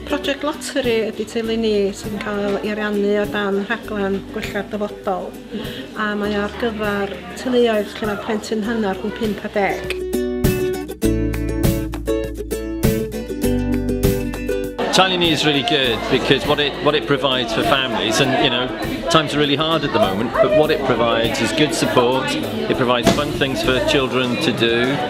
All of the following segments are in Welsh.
Project Lottery ydy teulu ni sy'n cael ei ariannu o dan rhaglen gwella'r dyfodol a mae ar gyfer teuluoedd lle mae plentyn hynna rhwng 5 a 10. Italian is really good because what it what it provides for families, and you know, times are really hard at the moment. But what it provides is good support. It provides fun things for children to do.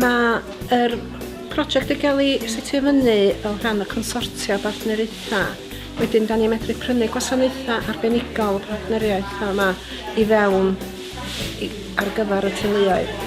Mae yr prosiect yn cael ei setio fyny fel rhan o consortia o bartneriaethau. Wedyn, da ni'n medru prynu gwasanaethau arbenigol y partneriaeth yma i fewn ar gyfer y teuluoedd.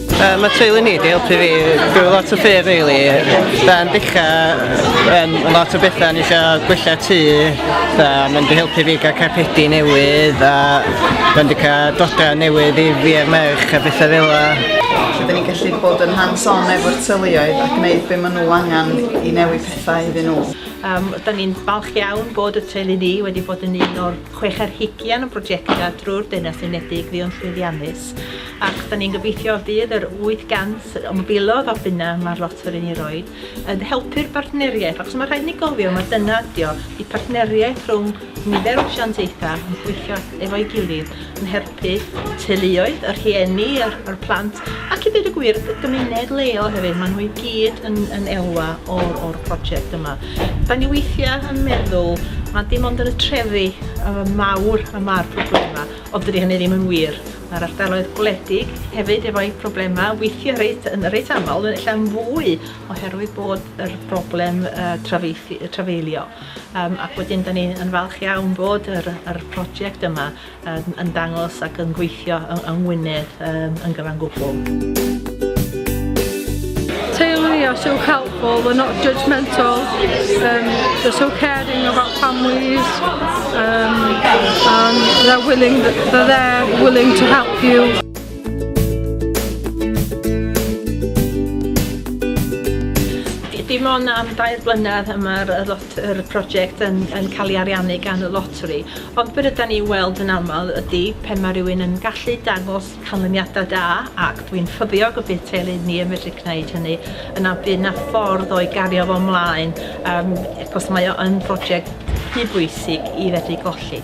Uh, mae teulu ni wedi helpu fi byw lot o ffyr, really. Da'n dechrau um, lot o bethau ni eisiau gwella tu. Da, mae'n wedi helpu fi gael carpedi newydd a mae'n wedi cael dodau newydd i fi a'r merch a bethau fel la. So, da ni'n gallu bod yn hands-on efo'r teuluoedd a gwneud be maen nhw angen i newid pethau iddyn nhw. Um, da ni'n balch iawn bod y teulu ni wedi bod yn un o'r chwech ar hugian o brosiectau drwy'r Deyrnas Unedig ddion llwyddiannus. ac dan ni'n gobeithio y bydd yr 800 o miloedd o bunnau mae'r loteri yn ei roi yn helpu'r bartneriaeth, achos mae rhaid ni gofio mae dyna ydi o, y partneriaeth rhwng nifer o asiantaethau yn gweithio efo'i gilydd yn helpu teuluoedd, y rhieni, yr, yr plant, ac i ddweud y gwir, y gymuned leol hefyd, maen nhw i gyd yn, yn elwa o'r, or prosiect yma. Da ni weithiau yn meddwl, mae dim ond yn y trefi mawr y mae'r problemau, ond dydy hynny ddim yn wir. Mae'r ardaloedd gwledig hefyd efo'u problemau weithio reit yn reit aml yn ella'n fwy oherwydd bod yr broblem yy trafeithi- yy trafeilio yym ac wedyn 'dan ni yn falch iawn bod yr yy yr project yma yn yn dangos ac yn gweithio yng yng Ngwynedd yym yn gyfan gwbwl. Teulu a Sue Help. Well, we're not judgmental, um, they're so caring about families, um, and they're willing, they're there willing to help you. Dim ond am dair blynedd y mae'r er prosiect yn, yn cael ei ariannu gan y lottery, ond beth ydy ni weld yn aml ydy pen mae rhywun yn gallu dangos Canlyniadau da ac dwi'n ffyddiog y bydd teulu ni yn medru gwneud hynny yna bydd 'na ffordd o'i gario fo mlaen yym achos mae o yn broject rhy bwysig i fedru golli.